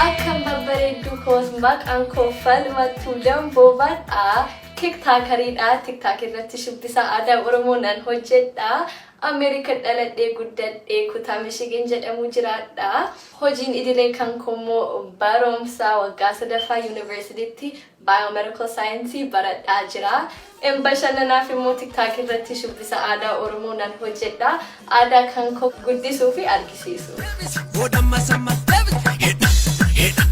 Akkam babbareedduu koos maqaan koo falmattuu damboobadha. Tiktaakariidha. Tiktaak irratti shubbisa aadaa Oromoo nan hojjedha. Ameerika dhaladhee guddadhee kutaa Michigan jedhamu jiraadha. Hojiin idilee kan koo immoo barumsa waggaa sadaffaa yuunivarsiitiitti Biomedical Science baradhaa jira. N Bashannanaaf immoo TikTok irratti shubbisa aadaa Oromoo nan hojjedha. Aadaa kan koo guddisuu fi argisiisuu. Deebisi booda ammas ammas deebisi. Hidha hidha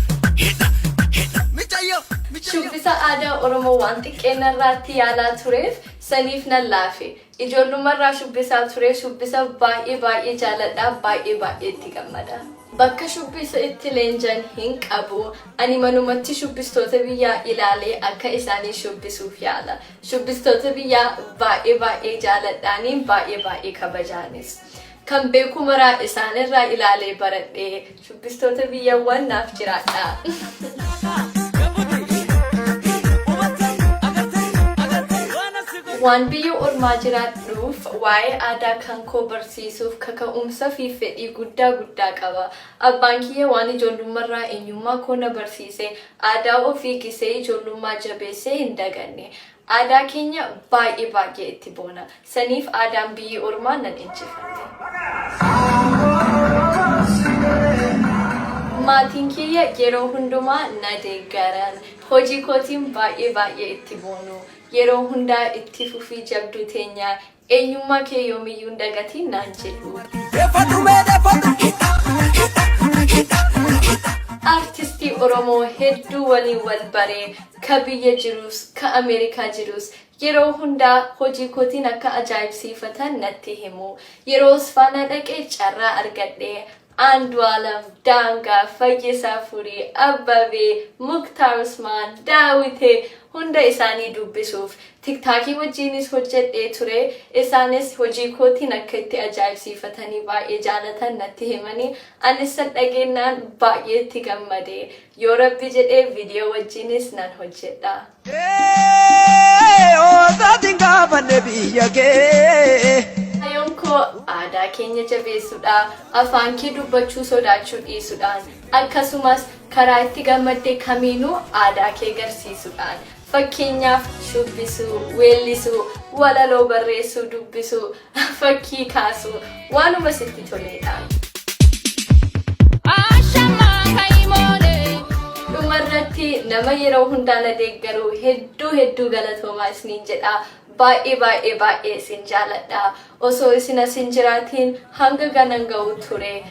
hidha hidha micayyoo micayyoo. Shubbisa aadaa Oromoo waan xiqqeen narraatti yaalaa tureef saniif nan laafe. Ijoollummarraa shubbisaa ture. Shubbisa baay'ee baay'ee jaaladha. Baay'ee baay'ee itti gammada. Bakka shubbisa itti leenjan hin qabu. Ani manumatti shubbistoota biyyaa ilaalee akka isaanii shubbisuuf yaala. Shubbistoota biyyaa baay'ee baay'ee jaaladhaani baay'ee baay'ee kabajaanis. Kan beeku maraa isaan irraa ilaalee baradhe. Shubbistoota biyyawwan naaf jiraadhaa. Waan biyya ormaa jiraadhuuf waa'ee aadaa kan koo barsiisuuf kaka'umsa fi fedhii guddaa guddaa qaba. Abbaan kiyya waan ijoollummarraa eenyummaa koo na barsiise, aadaa ofii gisee ijoollummaa jabeessee hin daganne. Aadaa keenya baay'ee baay'ee itti boona. Saniif aadaan biyyi ormaa nan injifanne. Maatiin kiyya yeroo hundumaa na deeggaran. Hojii kootiin baay'ee baay'ee itti boonu. Yeroo hundaa itti fufii jabduu teenya Eenyummaa kee yoomiyyuu hin dagatiin naan jedhu. Defadhu mee defadhu hidha hidha hidha hidha. Artistii Oromoo hedduu waliin wal bare, ka biyya jiruus, ka Ameerikaa jiruus yeroo hundaa hojii kootiin akka ajaa'ibsiifatan natti himu. Yeroo Osfaanaa dhaqe carraa argadhe, Andualam, Daangaa, Fayyisaa Furii, Abbabee, Muktaar Usmaan, Daawite hunda isaanii dubbisuuf. Tiktaakii wajjiinis hojjedhee ture. Isaanis hojii kootiin akka itti ajaa'ibsiifatanii baay'ee jaalatan natti himanii anissan dhageennaan baay'ee itti gammade. Yoo rabbi jedhe video wajjiinis nan hojjedha. Osaatiin gaafadhe biyya kee. Kayoon koo aadaa keenya jabeessuudha, afaan kee dubbachuu sodaachuu dhiisuudhaan, akkasumas karaa itti gammadde kamiinuu aadaa kee garsiisuudhaan. Fakkeenyaaf shubbisuu, weellisuu, walaloo barreessuu, dubbisuu, Fakkii kaasuu waanuma sitti toleedha. Dhumarratti nama yeroo hundaa na deeggaru hedduu hedduu galatoomaa isiniin jedha. Baay'ee baay'ee baay'ee isin jaaladha. Osoo isin as hin jiraatiin hanga ganan ga'u ture